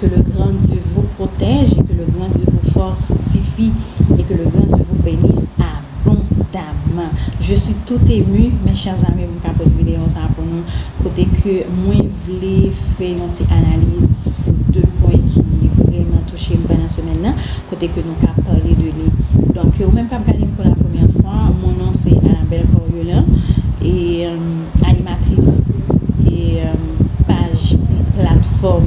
Ke le gran Dye vou pwotèj e ke le gran Dye vou fòtifi e ke le gran Dye vou benis abondamman je suis tout emu mes chers amis pou m ka pot video sa pou nou kote ke mwen vle fè yon ti analiz sou 2 pwen ki vrèman touche m pandan semèn nan kote ke nou ka pale de li donk ou menm kap gade m pou la premyè fwa mon non se Anabelle Coriolan e. Animatris paj platfòm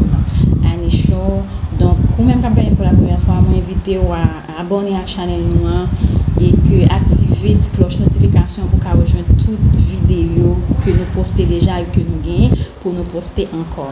Annie Show donk ou menm kap gade m pou la premyè fwa mwen envite ou a abòne ak chanèl nou an e ke aktive ti klòch notifikasyon pou ka rejwenn tout videyo ke nou poste deja e ke nou genyen pou nou poste ankò.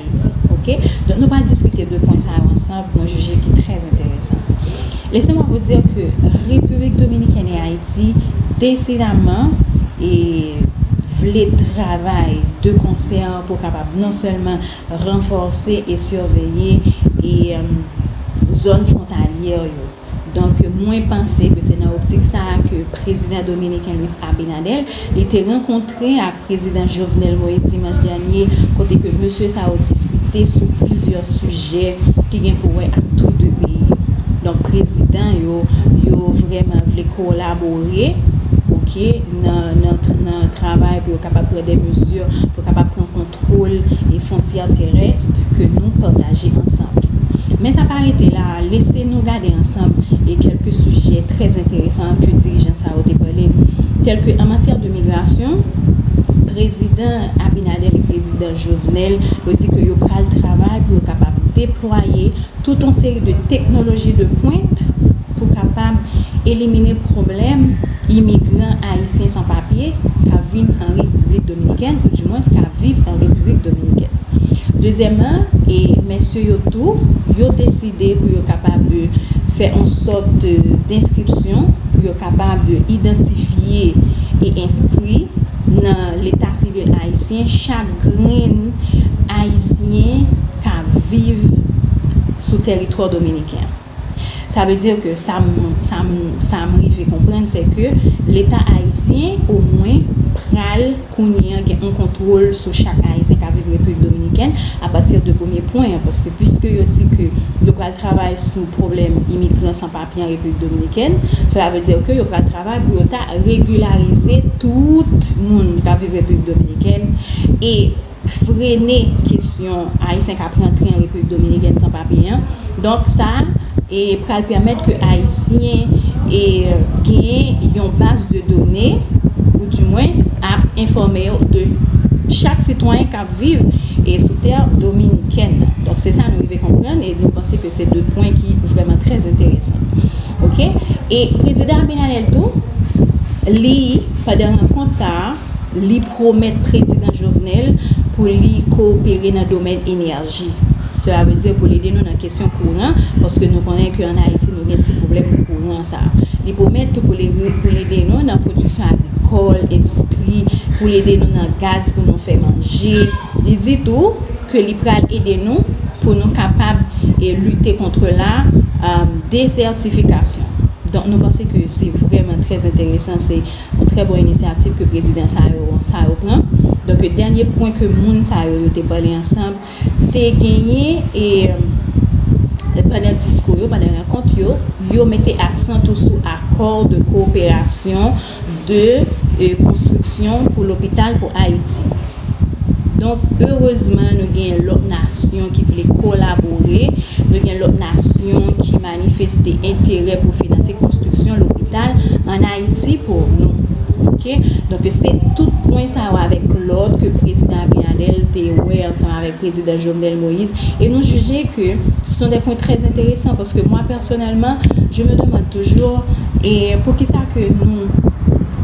Ayiti. Ok. Donk nou pral diskite de pwen sa yo ansanb, mwen jije ki trè enteresan. Lese mwa vou dir ke Repiblik Dominikèn e Ayiti desidaman e vle travay de konsè pou kapab non sèlman ranfòse e sirveye e zòn fwontalyè yo, Donk mwen panse ke se nan optik sa a ke prezidan dominiken Luis Abinader, li te rankontre ak prezidan Jovenel Moïse dimanch dènye kote ke mesye sa yo diskite sou plizyè sijè ki gen pou wè ak tou 2 peyi yo. Donk prezidan yo, yo vrèman vle kolabore, ok, nan travay pou yo kapab pran de mezi, pou yo kapab pran kontak. Twol e fontyè terèst ke nou pataje ansanb. Men sa pa rete la, lese nou gade ansanb e kelke sijè trè enteresan ke dirijan sa yo te pale. Telke an matyè de migrasyon, Prezidan Abinader e Prezidan Jovenel yo di ke yo pral travay pou yo kapab deplwaye tout on seri de teknoloji de pwent pou kapab elimine pwoblèm Imigran ayisyen san papye ka vin an Repiblik Dominikèn ou dimwens ka viv an Repiblik Dominikèn. Dezyèman, e mesye yo tou, yo deside pou yo kapab fè on sòt denskripsyon pou yo kapab idantifye e enskri nan leta sivil ayisyen chak grenn ayisyen ka viv sou tèritwa dominiken an. Sa vle di ke sa m rive konprann se ke leta ayisyen omwen pral kounye an gen yon kontwol sou chak ayisyen k ap viv Repiblik Dominikèn apati de premye pwen an paske piske yo di ke yo pral travay sou pwoblèm imigran san papye an Repiblik Dominikèn sela vle di ke yo pral travay pou yo ta regilarize tout moun k ap viv Repiblik Dominikèn e frene kesyon ayisyen kap rantre an Repiblik Dominikèn san papye an, donk sa pral pèmèt ke ayisyen gen yon baz de done ou di mwens ap enfòme yo de chak sitwayen kap viv sou tè dominikèn nan, donk se sa nou rive konprann e nou panse ke se 2 pwen ki vrèman trè enteresan ok e Prezidan Abinader tou li pandan rankont sa. Li pwomèt Prezidan Jovenel pou li kowopere nan domèn enèji. Sela vle di pou l ede nou nan kesyon kouran, paske nou konnen ke an Ayiti nou gen ti pwoblèm kouran sa. Li pwomèt tou pou li pou l ede nou nan pwodiksyon agrikòl, endistri, pou l ede nou nan gaz pou nou fè manje. Li di tou ke li pral ede nou pou nou kapab lite kontre la dezètifikasyon. Donk nou panse ke se vrèman trè enteresan se. yon trè bon inisyativ ke prezidan sa yo sa yo pran donk yo dènye pwen ke moun sa yo yo te pale ansanm te genyen e pandan diskou yo pandan rankont yo yo mete aksan tou sou akò de koperasyon de konstriksyon pou lopital pou ayiti donk erezman nou genyen lòt nasyon ki vle kolabore nou gen lòt nasyon ki. manifeste enterè pou finanse konstriksyon lopital an Ayiti pou nou. Ok. Donk se tout pwen sa yo avèk lòt ke Prezidan Abinader te wè ansanm avèk Prezidan Jovenel Moïse e nou jije ke se son de pwen trè enteresan paske mwa pèsonèlman je me demande toujours e poukisa ke nou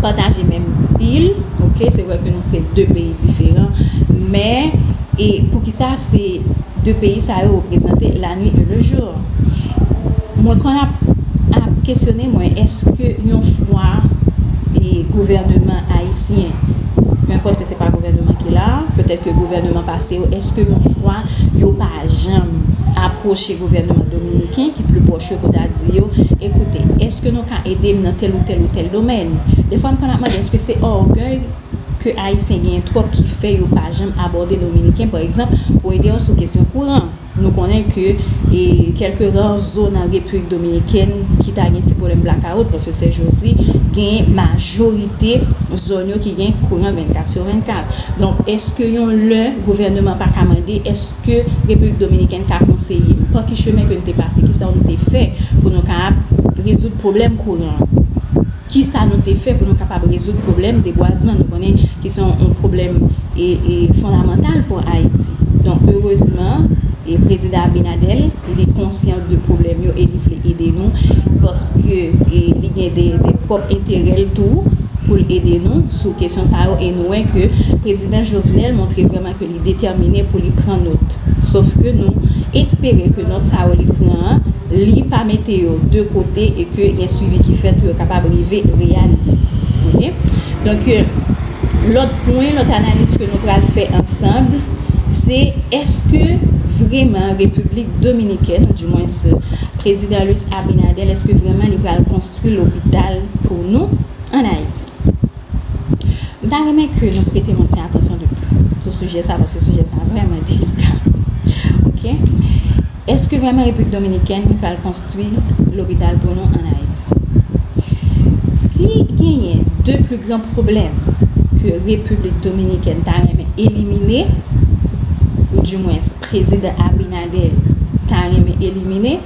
pataje menm pil ok se vre ke nou se 2 peyi diferan men e poukisa se 2 peyi sa yo reprezante la nuit et le jour. Mwen konn ap ap kesyone mwen eske yon fwa e gouvèneman ayisyen penpòt ke se pa gouvèneman ki la a, petèt ke gouvèneman pase yo, eske yon fwa yo pa janm apwoche gouvèneman dominiken ki pli pwòch yo pou ta di yo, ekoute, eske nou ka ede m nan tèl ou tèl ou tèl domèn? Defwa m konn ap mande eske se ògèy ke ayisyen genyen twòp ki fè yo pa janm abòde dominiken pa egzanp pou ede yo sou kesyon kouran? Nou konnen ke e kèlke ra zo nan Repiblik Dominikèn ki ta gen ti pwoblèm blakawout paske sè Jozi gen majorite zòn yo ki gen kouran 24 sou 24. Donk èske yon lè gouvèneman pa ka mande èske Repiblik Dominikèn ka konseye m pa ki chemen ke n te pase, ki sa w n te fè pou nou ka ap rezoud pwoblèm kouran an? Ki sa nou te fè pou nou kapab rezoud pwoblèm debwazman? Nou konnen ki se yon pwoblèm fondamantal pou Ayiti. Donk, erezman, Prezidan Abinadèl, li konsyan de pwoblèm yo e li vle ede nou, paske li gen de pwòp enterè l tou pou l ede nou sou kesyon sa yo e nou wè ke Prezidan Jovenel montre vrèman. ke li detèmine pou li pran nôt, sof ke nou espere ke nôt sa yo li pran an, li pa mete yo de kote e ke gen swivi ki fèt pou yo kapab rive reyalize. Ok. Donk, lôt pwen, lôt analiz ke nou pral fè ansanb, se èske vreman Repiblik Dominikèn, ou di mwens Prezidan Luis Abinader, èske vreman li pral konstwi lopital pou nou an Ayiti? M ta renmen ke nou prete yon ti atansyon de pli sou sijè sa paske sijè sa vrèman delika ok eske vrèman repiblik dominikèn pral konstwi lopital pou nou an ayiti si genyen 2 pli gran pwoblèm ke repiblik dominikèn ta renmen elimine ou di mwens prezidan abinader ta renmen elimine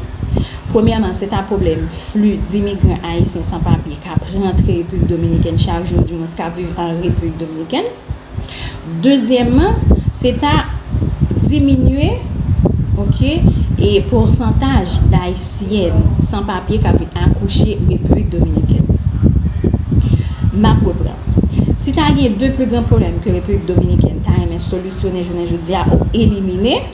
premyèman se ta pwoblèm fli dimigran ayisyen san papye k ap rantre Repiblik Dominikèn chak jou, oudiwens k ap viv an Repiblik Dominikèn. Dezyèmman, se ta diminye, oke, e pousantaj Dayisyèn san papye k ap vin akouche Repiblik Dominikèn. M ap reprann. Si ta gen de pli gran pwoblèm ke Repiblik Dominikèn ta renmen solisyone jounen jodi a ou elimine,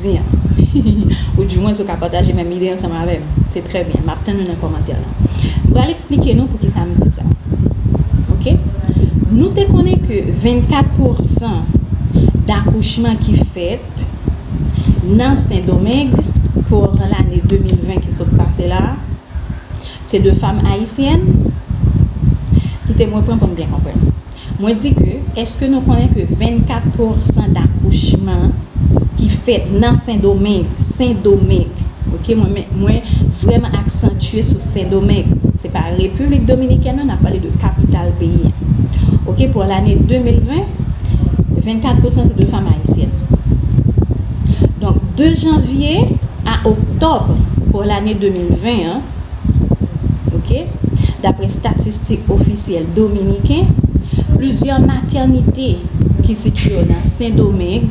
di an. Ou di mwens ou ka pataje menm ide ansanm avè m. Se trè byen. M ap tann ou nan kòmantè lan. M pral eksplike nou poukisa m di sa. Ok. Nou te konnen ke 24 pousan dakouchman ki fèt nan Sendomeng pou an lane 2020 ki sot pase la a, se de fam ayisyèn? Kite mwen pran pou n byen konprann. Mwen di ke, eske nou konnen ke 24 pousan dakouchman ki fèt nan Sendomeng, Sendomeng, ok, mwen men, mwen vrèman aksantye sou Sendomeng, se pa Repiblik Dominikèn non, n ap pale de kapital peyi an, ok, pou lane 2020, 24 pousan se de fanm ayisyèn. Donk, de janvye a oktòb pou lane 2020 an, Ok. Dapre statistik ofisyèl dominiken, plizyè matènite ki sitye yo nan Sendomeng,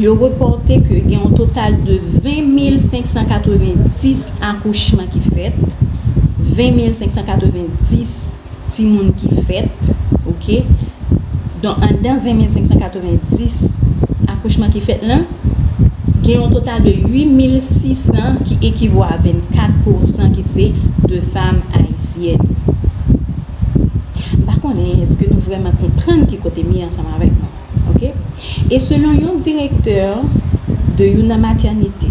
yo repòte ke gen yon total de 20.590 akouchman ki fèt, 20.590. Timoun ki fèt, ok. Donk anndan 20 mil 590 akouchman ki fèt lan, gen yon total de 8 mil 600 ki ekivò a 24 pousan ki se de fam ayisyèn. M pa konnen èske nou vrèman konprann ki kote m ye ansanm avèk nou, ok. E selon yon direktè de youn nan matènite,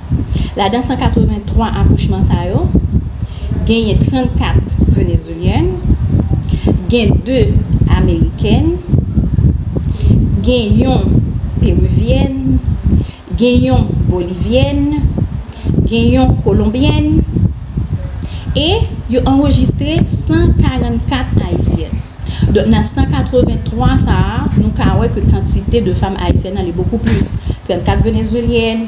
Ladan 183 akouchman sa yo, genyen 34 Venezulyèn, gen 2 Amerikèn, gen yon Peruvyèn, gen yon Bolivyèn, gen yon Kolonbyèn e yo anrejistre 144 Ayisyèn. Donk nan 183 sa a, nou ka wè ke kantite de fanm Ayisyèn ale bokou plis, 34 Venezuelyèn,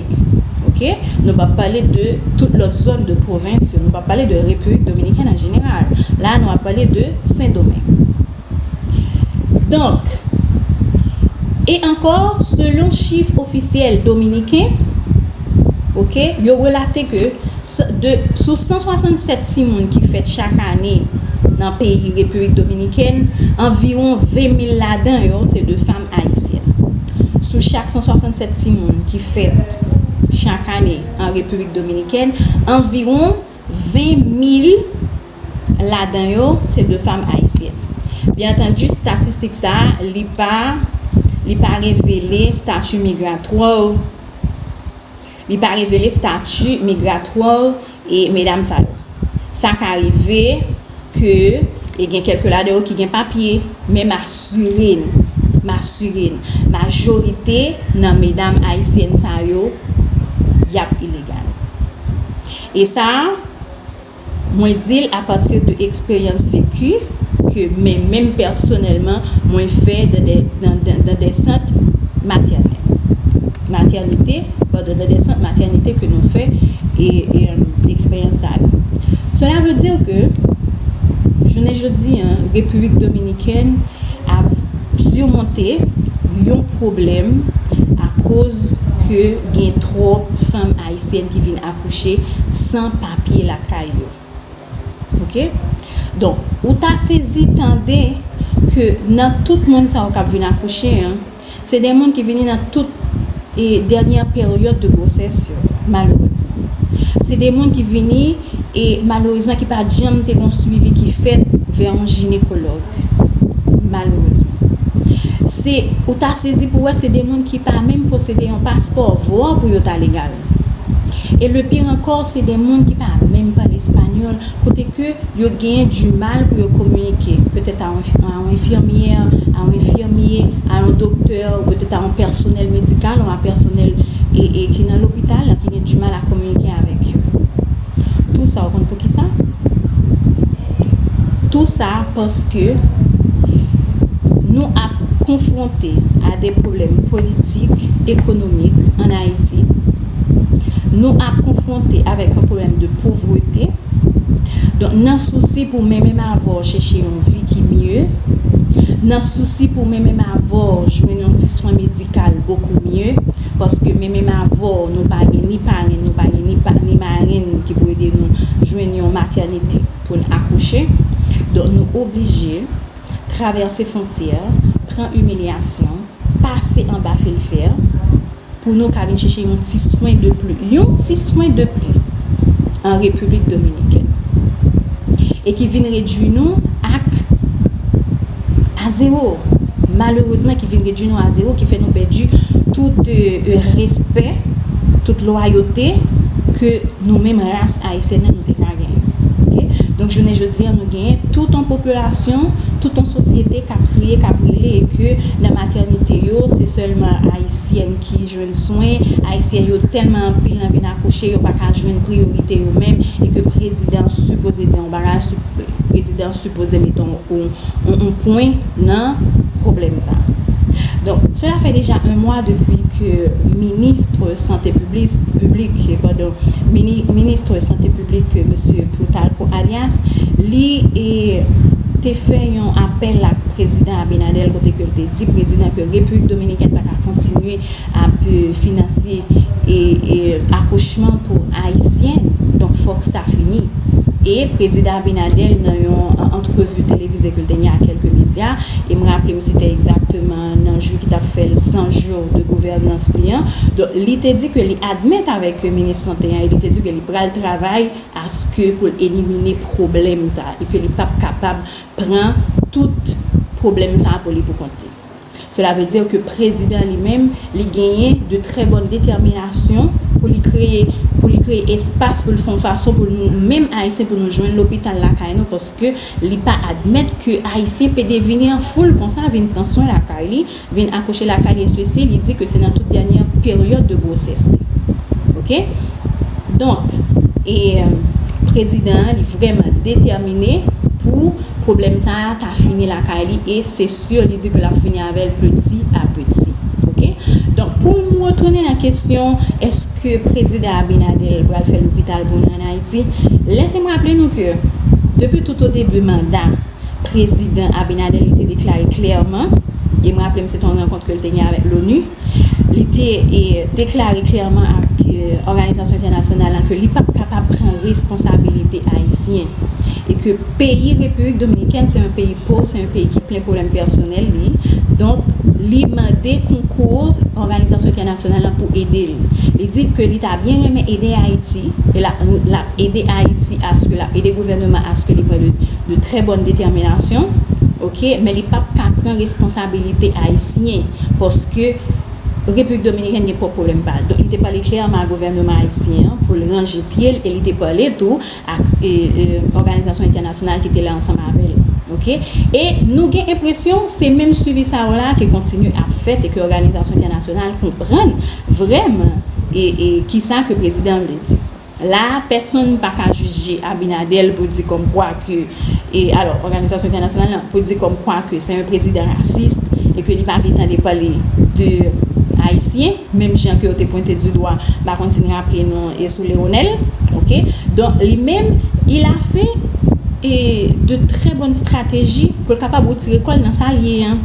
Dominik. Ok. Nou pa pale de tout lòt zòn de pwovens yo. Nou pa pale de Repiblik Dominikèn an jeneral. La a nou ap pale de Sendomeng. Donk, e ankò, selon chif ofisyèl dominiken, ok, yo relate ke de sou 167 timoun ki fèt chak ane nan peyi Repiblik Dominikèn, anviwon 20 mil ladan yo se de fanm Ayisyen. Sou chak 167 timoun ki fèt chak ane an Repiblik Dominikèn, anviwon 20 mil ladan yo se de fanm Ayisyen. Byen antandi, statistik sa a, li pa li pa revele stati migratwè fanm yo. Li pa revele stati migratwò e medam sa yo. Sa ka rive ke e gen kelke ladan yo ki gen papye, men m asire n, m asire n, majorite nan medam ayisyèn sa yo, y ap ilegal. E sa, Mwen di l apati de eksperyans veki ke men menm pèsonèlman mwen fè dan de sant matènè, matènite, padon, dan de sant matènite ke nou fè e eksperyans sa yo. Sela ve di ke jounen jodi an Repiblik Dominikèn ap simonte yon pwoblèm akoz ke gen twòp fanm ayisyèn ki vin ak. kouche san papye lakay yo ok donk ou ta sezi tande ke nan tout moun sa yo kap vin akouche an se de moun ki vini nan tout e dènyè peryòd de gwosès yo malerezman se de moun ki vini e malerezman ki pa janm te gon swivi ki fèt vè yon jinekològ malerezman se ou ta sezi pou wè se de moun ki pa menm posede yon paspò vwa pou yo ta legal. e le pire encore se de moun ki pa menm pale español kote ke yo genyen du mal pou yo kominike petèt a yon enfirmyè, a yon enfirmye, a yon doktè ou petèt a yon pèsonèl medikal ou a pèsonèl ki nan lopital la ki gen du mal a kominike avèk yo. Tou sa ou konn pou kisa? Tou sa paske nou ap konfwonte a de pwoblèm politik, ekonomik an Ayiti, nou ap konfwonte avèk yon pwoblèm de povrete, donk nan sousi pou men menm avè w chèche yon vi ki mye, nan sousi pou men menm avè w jwenn yon ti swen medikal bokou mye, Paske men menm avè w nou pa gen ni parenn nou pa gen ni marenn ki pou ede nou jwenn yon matènite pou n akouche donk nou oblije travèse fontyè pran imilyasyon pase anba fil fè pou nou ka vin chèche yon ti swen de pli yon ti swen de pli an repiblik dominikèn e ki vin redui nou ak a 0 malerezman ki vin redwi nou a 0 ki fè nou pèdi tout respè tout lwayote ke nou menm ras ayisyèn nan nou te ka genyen ok donk jounen jodi a nou genyen tout yon popilasyon tout yon sosyete kap kriye kap rele e ke nan matènite yo se sèlman ayisyèn ki jwenn swen ayisyèn yo tèlman anpil nan vin akouche yo paka jwenn priyorite yo menm e ke prezidan sipoze di yon bagay prezidan. Vouzan met on pwen nan pwoblèm sa. Donk, sela fè deja 1 mwa depi ke ministre sante piblik, padon, ministre sante piblik Mesye Plutarco Arias, li te fè yon apèl ak Prezidan Abinader kote ke li te di Prezidan ke Repiblik Dominikèn pa ka kontinye ap finansye akouchman pou ayisyen donk fòk sa fini e prezidan Abinader nan yon antrevi televize ke l te gen ak kèlke medya e m raple m se te egzakteman nan jou ki t ap fè l 100 jou de gouvènans li an donk li te di ke li admèt avèk minis sante an e li te di ke li pral travay aske pou l elimine pwoblèm sa e ke li p ap kapab pran tout pwoblèm sa pou li pou kont li. Cela veut dire que prezidan li menm li genyen de très bonne détermination pou li kreye pou li kreye espas pou l fè yon fason pou nou menm ayisyen pou nou jwenn lopital lakay nou paske li pa admèt ke ayisyen pede vini an foul konsa vin pran swen lakay li vin akouche lakay li e sesi li di ke se nan tout dènyè peryòd de gwosès li ok donk e prezidan an li vrèman detèmine pou pwoblèm sa a ta fini lakay li e se Sou yo li di ke lap fini avèl peti a peti ok donk pou m retounen nan kesyon eske prezidan Abinadel pral fè lopital pou nou an Ayiti lese m raple nou ke depi tout o debi manda prezidan Abinadel li te deklare klèman e m raple m se te yon rankont ke l te gen avèk Loni. Li te deklare klèman ak òganizasyon entènasyonal la ke li pap kapab pran responsabilite ayisyen e ke peyi Repiblik Dominikèn se yon peyi pov, se yon peyi ki plen pwoblèm pèsonèl li, donk li mande konkou òganizasyon entènasyonal la pou ede l. Li di ke li ta byen renmen ede Ayiti e l ap. Ede Ayiti aske lap ede gouvèneman aske li pran de trè bòn detèminasyon ok men li pap ka pran responsabilite ayisyen paske Repiblik Dominikèn gen pwòp pwoblèm pal donk li te pale klèman a gouvèneman ayisyen an poul ranje pyel e li te pale tou ak òganizasyon entènasyonal ki te la ansanm avèl ok e nou gen enpresyon se menm swivi sa yo la ki kontinye ap fèt e ke òganizasyon entènasyonal konprann vrèman e kisa ke prezidan vle di. La a, pèsonn pa ka jije Abinadèl pou di kòm kwa ke, e alò, òganizasyon entènasyonal lan, pou di kòm kwa ke se yon prezidan rasis, e ke li pa vle tande pale de Ayisyen, menm jan ke yo te pwente di dwa, m pa konn si n raple nou, e sou Leonel. Oke? Donk, li menm, il a fait, e, de trè bòn strateji pou l kapab wotire kò l nan sa l ye an.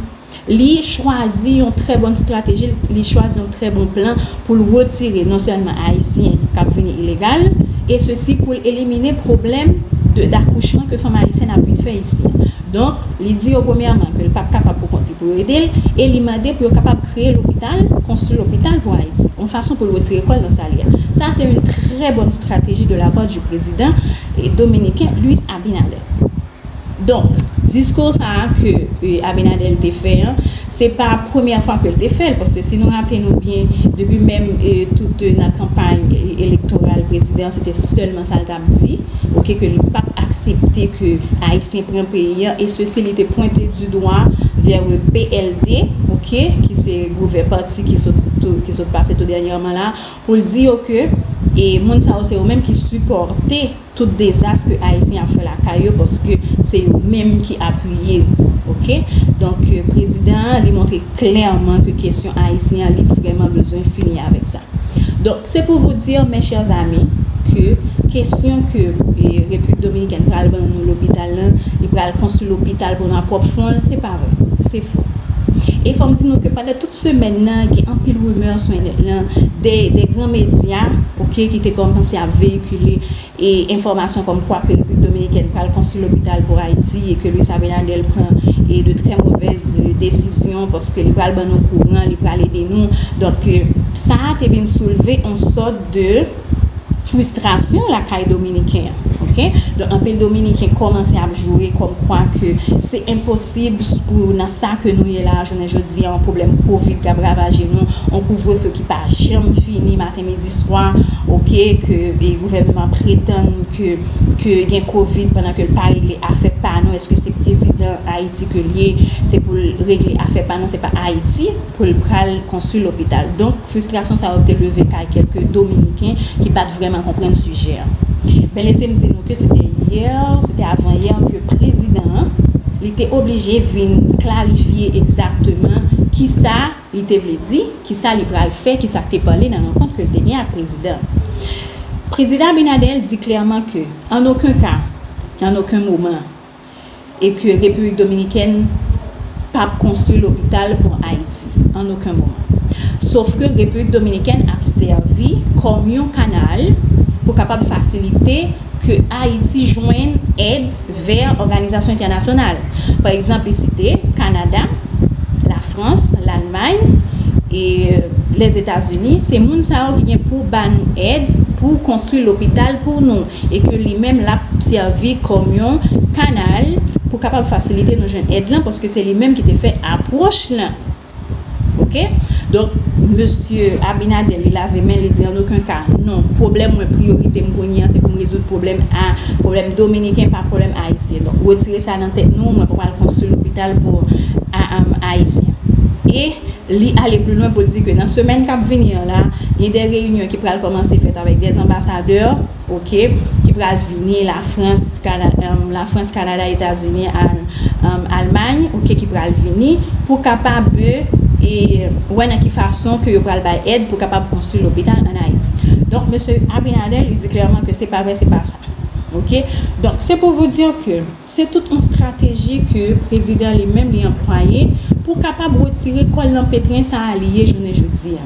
li chwazi yon trè bon strateji, li chwazi yon trè bon plan pou l retire non sèlman Ayisyen k ap vini ilegal, e sesi pou l elimine pwoblèm dakouchman ke fanm ayisyèn ap vin fè isi an. Donk, li di yo premyèman ke l p ap kapab pou kont li pou yo ede l, e li mande pou yo kapab kreye lopital, konstwi lopital pou Ayiti, yon fason pou l retire kò l nan sa l ye a. Sa se yon trè bòn strateji de la pa di prezidan dominiken Luis Abinader. Donk, diskou sa a ke Abinadèl te fè an, se pa premyè fwa ke l te fè l, paske si nou raple nou byen, depi menm tout nan kanpay elektoral prezidan, se te sèlman sa l t ap di, ok, ke li p ap aksepte ke Ayisyen pran peyi an, e sesi li te pwente di dwa vè e PLD, ok, ki se gouvè pati ki sot pase tou dènyèman la a, pou l di yo ke e moun sa yo se yo menm ki sipòte. Tout dezas ke ayisyen ap fè lakay yo paske se yo menm ki apiye ok donk prezidan an li montre klèman ke kesyon ayisyen an li vrèman bezwen fini avèk sa donk se pou vous dire mes chers amis ke kesyon ke repiblik dominikèn pral ban nou lopital lan li pral konstwi lopital pou nou a pwòp fon l se pa vre se fo e fò m di nou ke pandan tout semèn nan gen anpil rumeur sou enèt lan de gran medya ok ki te kòmanse ap veyikile. Li enfòmasyon kòm kwa ke Repiblik Dominikèn pral konstwi lopital pou Ayiti e ke Luis Abinader pran de trè movèz desizyon paske li pral ban nou kouran, li pral ede nou. Donk, sa a te vin soulve yon sòt de fristrasyon lakay Dominiken. Ok. Donk, anpil Dominiken kòmanse ap joure kòm kwa ke se enposib pou nan sa ke nou ye la a jounen jodi a, yon pwoblèm kovid k ap ravaje nou, yon kouvrefe ki pa janm fini. maten midi swa ok ke gouvèneman pretann ke gen covid pandan ke l pa regle afè pa nou eske se prezidan ayiti ke l ye se pou l regle afè pa nou se pa ayiti pou l pral konstwi lopital donk fristrasyon sa yo te leve kay kelke dominiken ki pat vrèman konprann sijè an ben lese m di nou ke se te yè se te avan yè ke prezidan an li te oblije vin klarifye egzakteman kisa. Li te vle di, ki sa li pral fè, ki sa k te pale nan rankont ke l te gen ak Prezidan an. Prezidan Abinader di klèman ke, an oken ka, an oken moman, e ke Repiblik Dominikèn pa p konstwi lopital pou Ayiti, an oken moman. Sof ke Repiblik Dominikèn ap sèvi kòm yon kanal pou kapab fasilite. ke Ayiti jwenn èd vè òganizasyon entènasyonal. Pa egzanp, li site Kanada, Lafrans, Lalmay, e Lèzetazini, se moun sa yo ki gen pou ba nou èd pou konstwi lopital pou nou, e ke li menm l ap sèvi kòm yon kanal pou kapab fasilite nou jwenn èd lan, paske se li menm ki te fè apwòch lan. Ok donk mesye abinader li lave men li di an oken ka non pwoblèm mwen priyorite m kounye an se pou m rezoud pwoblèm a pwoblèm dominiken pa pwoblèm ayisyen donk retire sa nan tèt nou mwen pa pral konstwi lopital pou ayisyen e li ale pli lwen pou l di ke nan semèn kap vini an la gen de reyinyon ki pral kòmanse fèt avèk de anbasadè. Ok ki pral vini la frans la frans kanada etazini an almay ok ki pral vini pou kapab e wè nan ki fason ke yo pral bay ed pou kapab konstri lopital an ayiti donk mesye abinader li di klèman ke se pa vre se pa sa ok donk se pou vou dir ke Se tout on strateji ke prezidan li menm li anplwaye pou kapab retire kòl nan petrin sa a li ye jounen jodi a.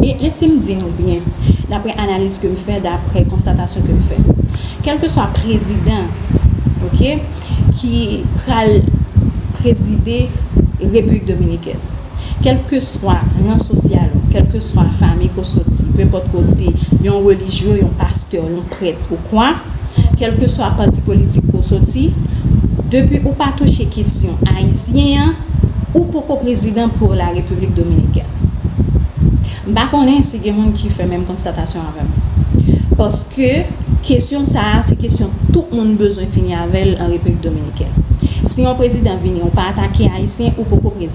E lese m di nou byen, daprè analiz ke m fè, daprè konstatasyon ke m fè. Kèlkeswa prezidan ok ki pral prezide Repiblik Dominikèn. Kèlkeswa ran sosyal ou, kèlkeswa fami ke w soti, pe enpòt ke w te yon relijye, yon pastè, yon prèt ou kwa, kèlkeswa pati politik ke w soti, depi ou pa touche kesyon ayisyen an, ou poko prezidan pou la Repiblik Dominikèn. M pa konnen si gen moun ki fè menm konstatasyon avè m. Paske kesyon sa a se kesyon tout moun bezwen fini avè l an Repiblik Dominikèn. Si yon prezidan vini ou pa atake ayisyen, ou poko prezidan.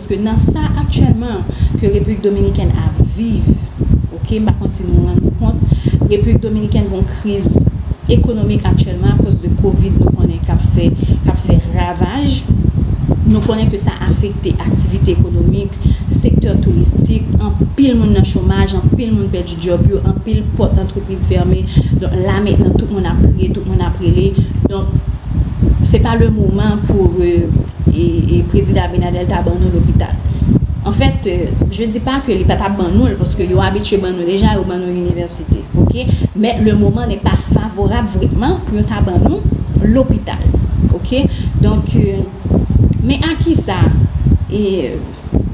Paske nan sa aktyèlman ke Repiblik Dominikèn ap viv, ok, m pa konn si nou rann nou kont, Repiblik Dominikèn gon kriz ekonomik aktyèlman akoz de Covid nou konnen k ap fè, k ap fè ravaj. Nou konnen ke sa afekte aktivite ekonomik, sektè touristik, anpil moun nan chomaj, anpil moun pèdi. Djòb yo anpil pòt antrepriz fèmen donk la mentnan tout moun ap kriye tout moun ap rele donk se pa le moman pou prezidan Abinader ta ban nou lopital anfèt je di pa ke li pa ta ban nou l paske yo abitye ban nou deja yo ban nou inivèsite ok men le moman ne pa favorab vrèman pou yo ta ban nou lopital ok donk men a kisa.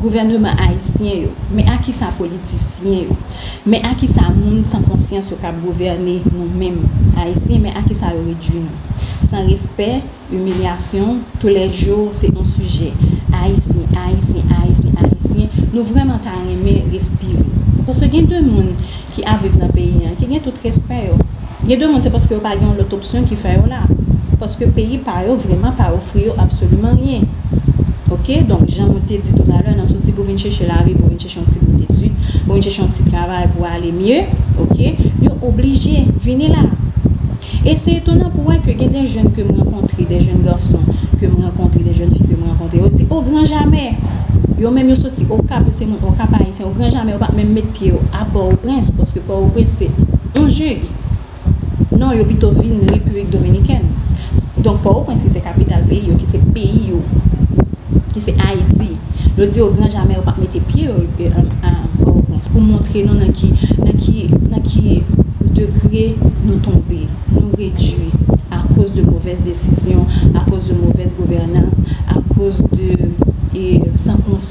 gouvèneman ayisyen yo, men a ki sa politisyen yo, men a ki sa moun san konsyans yo k ap gouvène nou menm ayisyen, men a ki sa yo redui nou. San respè, imilyasyon, tou lè jou se on sijè, ayisyen, ayisyen, ayisyen, ayisyen, nou vrèman ta renmen respire. Paske gen de moun ki ap viv nan peyi an ki gen tout respè yo. Gen de moun se paske yo pa gen yon lòt opsyon ki fè yo la. Paske peyi pa yo vrèman pa ofri yo absoliman ryen. Ok, donk jan nou te di toutalè nan sousi pou vin chèche lavi, pou vin chèche yon ti bout etid, pou vin chèche yon ti travay pou ale mye, ok, yo oblije vini la. E se etonan pou wè ke gen de jèn ke m rankontre, de jèn gason ke m rankontre, de jèn fi ke m rankontre, yo di o gran jamè! Yo menm yo soti Okap, yo se moun Okap, Au grand jamais ou pap menm met pye ou a port au prince paske port au prince se yon jug non yo pito vin République dominicaine donc port au prince ki se capital peyi yo ki se peyi yo ki se Haïti yo di au grand jamais ou pap mete pye ou a port au prince pou montre nou nan ki nan ki nan ki degre nou tonbe nou redwi a koz de movèz desizyon a koz de movèz governance a koz de e san konsyans.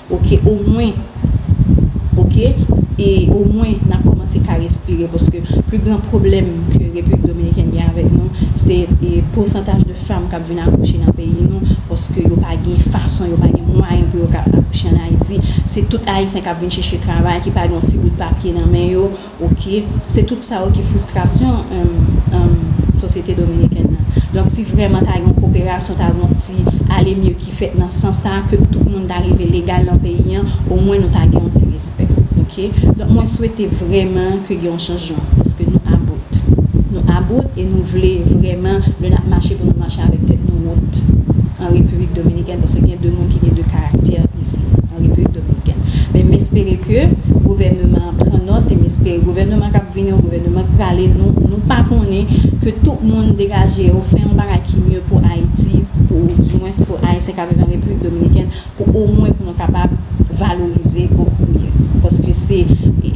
Ok omwen ok e omwen nap komanse ka respire paske pli gran pwoblèm ke repiblik dominikèn gen avèk nou se e pousantaj de fanm kap vin akouche nan peyi nou paske yo pa gen fason yo pa gen mwayen pou yo ka akouche an ayiti se tout ayisyen kap vin chèche travay ki pa gen yon ti bout papye nan men yo Ok, se tout sa yo ki fristrasyon sosyete dominikèn nan. Donk si vrèman ta gen yon koperasyon, ta gen yon ti ale mye ki fèt nan sans sa, ke tout moun ta rive legal nan peyi an, omwen nou ta gen yon ti respè. Ok, donk mwen swete vrèman ke gen yon chanjman, paske nou about. Nou about e nou vle vrèman lè nap mache pou nou mache avèk tèt nou wot an Repiblik Dominikèn, paske gen de moun ki gen de karaktè. isi an Repiblik Dominikèn. Men m espere ke gouvèneman an pran nòt e m espere gouvèneman k ap vini yo, gouvèneman k prale, nou pa konnen, ke tout moun degaje yo, fè yon bagay ki mye pou Ayiti, pou dimwens pou Ayisyen k ap viv an Repiblik Dominikèn, pou omwen pou nou kapab valorize bokou mye. Paske se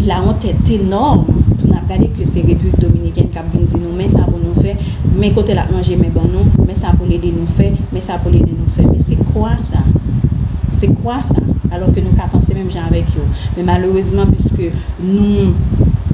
la honte est enorme pou n ap gade ke se Repiblik Dominikèn k ap. l ap vin di nou, men sa pou nou fè, men kote l ap manje men ban nou, men sa pou l ede nou fè, men sa pou l ede nou fè. Men se kwa sa. Se kwa sa. Alò ke nou ka panse menm jan avèk yo. Men malerezman piske nou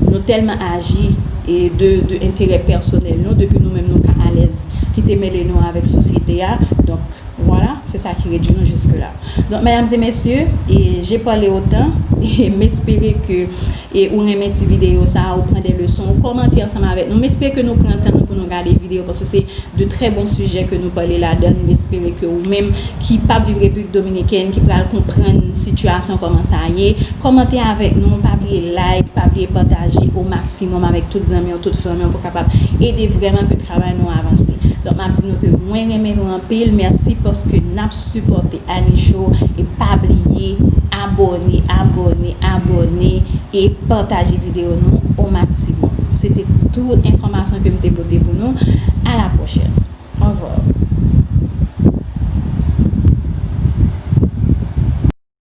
nou tèlman aji e de de enterè pèsonèl nou, depi nou menm nou ka alèz kite mele nou avèk sosyete a, donk vwala, se sa ki redui nou jiske la. Donk mèdam e mesye, e je pale otan e m espere ke E ou renmen ti video sa a ou pran de leson ou kòmante ansanm avèk nou m espere ke nou pran tan nou pou nou gade video paske se de trè bon sijè ke nou pale ladann m espere ke ou menm ki pap viv repiblik dominikèn ki pral konprann sitiyasyon kòman sa ye kòmante avèk nou pa bliye like pa bliye pataje o maksimòm avèk tout zanmiw tout fanmiw pou kapab ede vrèman ke travay nou avanse donk map di nou ke mwen renmen nou anpil mèsi paske nap sipòte. Annie show e pa bliye abòne abòne abòne e pataje video nou o maximum se te tout enfòmasyon kem te pote pou nou a la pwochèn orvwa.